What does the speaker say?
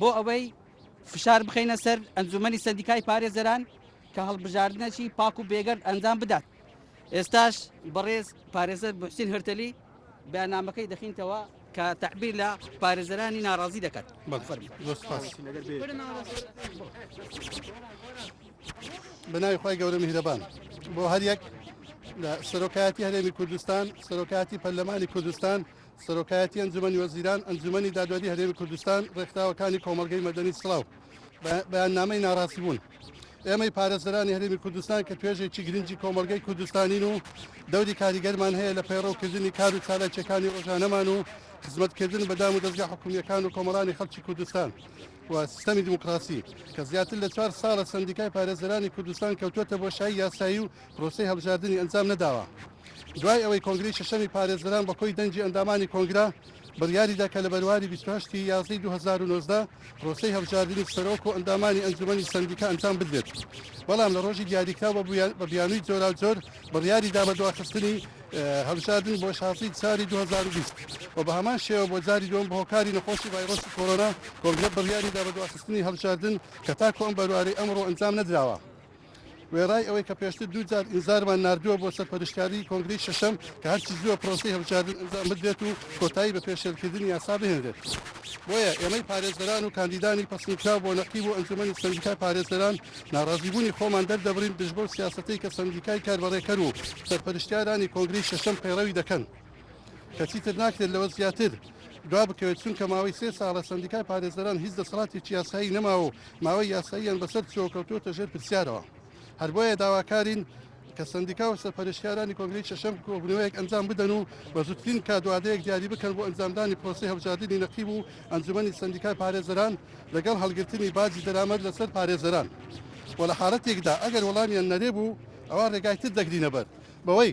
بۆ ئەوەی فشار بخینە سەر ئەنجومەنی سەدیکای پارێزەران کە هەڵبژاردنەکی پاک و بێگەرد ئەنجام بدات ئێستاش بەڕێز پارێزەر بحسین هەرتەلی بەنامەکەی دەخینتەوە کە تعبیر لە پارێزەرانی ناڕازی دەکات بەناوی خی گەورە میهرەبان بۆ هەریەک لە سەرۆکایەتی هەرێمی کوردستان سەرۆکاتی پەرلەمانی کوردستان سەرۆکایەتی ئەنجومەنی وەزیران، ئەنجومەنی دادوەری هەرێمی کوردستان، ڕێکخراوەکانی کۆمەڵگەی مەدەنی سڵاو بە بەیاننامەی ناڕاستبوون. ئێمەی پارێزەرانی هەرێمی کوردستان کە توێژێکی گرنگی کۆمەڵگەی کوردستانین و دەوری کاریگەرمان هەیە لە پەیڕەوکردنی کار و چالاکیەکانی ڕۆژانەمان و خزمەتکردن بە دام و دەستگا حکومیەکان و کۆمەڵانی خەڵکی کوردستان و سیستەمی دیموکراسی کە زیاتر لە چوار ساڵە سندیکای پارێزەرانی کوردستان کەوتوەتە بۆشایی یاسایی و پرۆسەی هەڵبژاردنی ئەنجام نەداوە دوای ئەوەی کۆنگرەی شەشەمی پارێزەران بە کۆی دەنگی ئەندامانی کۆنگرە بڕیاریدا کە لە بەرواری بیست و هەشت ی یازدەی دوو هەزار و نۆزدە پرۆسەی هەڵبژاردنی سەرۆک و ئەندامانی ئەنجومەنی سەندیکا ئەنجام بدرێت بەڵام لە ڕۆژی دیاریکراو بە بویا- بە بیانووی جۆراوجۆر بڕیاریدا بە دواخستنی اه، هەڵبژاردن بۆ شازدەی چاری دوو هەزار و بیست و بە هەمان شێوە بۆ جاری دووەم بە هۆکاری نەخۆشی ڤایرۆسی کۆرۆنا کۆنگرە بڕیاریدا بە دواخستنی هەڵبژاردن کە تاکو ئەم بەروارەی ئەمڕۆ ئەنجام نەدراوە. وێڕای ئەوەی کە پێشتر دوو جار ئینزارمان ناردووە بۆ سەرپەرشتیاری کۆنگرەی شەشەم کە هەرچی زووە پرۆسەی هەڵبژاردن ئەنجام بدرێت و کۆتایی بە پێشێلکردنی یاسا بهێنرێت بۆیە ئێمەی پارێزەران و کاندیدانی پەسندکراو بۆ نەقیب و ئەنجومەنی سەندیکای پارێزەران ناڕازیبوونی خۆمان دەردەبڕین دژ بەو سیاسەتەی کە سەندیکای کاربەڕێکەر و سەرپەرشتیارانی کۆنگرەی شەشەم پەیڕەوی دەکەن. کە چیتر ناکرێت لەوە زیاتر دوا بکەوێت چونکە ماوەی سێ ساڵە سندیکای پارێزەران هیچ دەسەڵاتێکی یاسایی نەماوە و ماوەی یاساییان بەسەر چۆکەوتوتە ژێر پرسیارەوە هەر بۆیە داواکارین کە سندیکا و سەرپەرشتیارانی کۆنگری شەشەم کۆبنەوەیەک ئەنجام بدەن و بە زووترین کادوادەیەک دیاری بکەن بۆ ئەنجامدانی پرۆسی هەڵبژاردننی نەقیب و ئەنجومەنی سندیکای پارێزەران لەگەڵ هەڵگرتنی باجی دەرامەت لەسەر پارێزەران و لە حاڵەتێکدا ئەگەر وەڵامیان نەرێ بوو ئەوە ڕێگای تر دەگرینە بەر بەوەی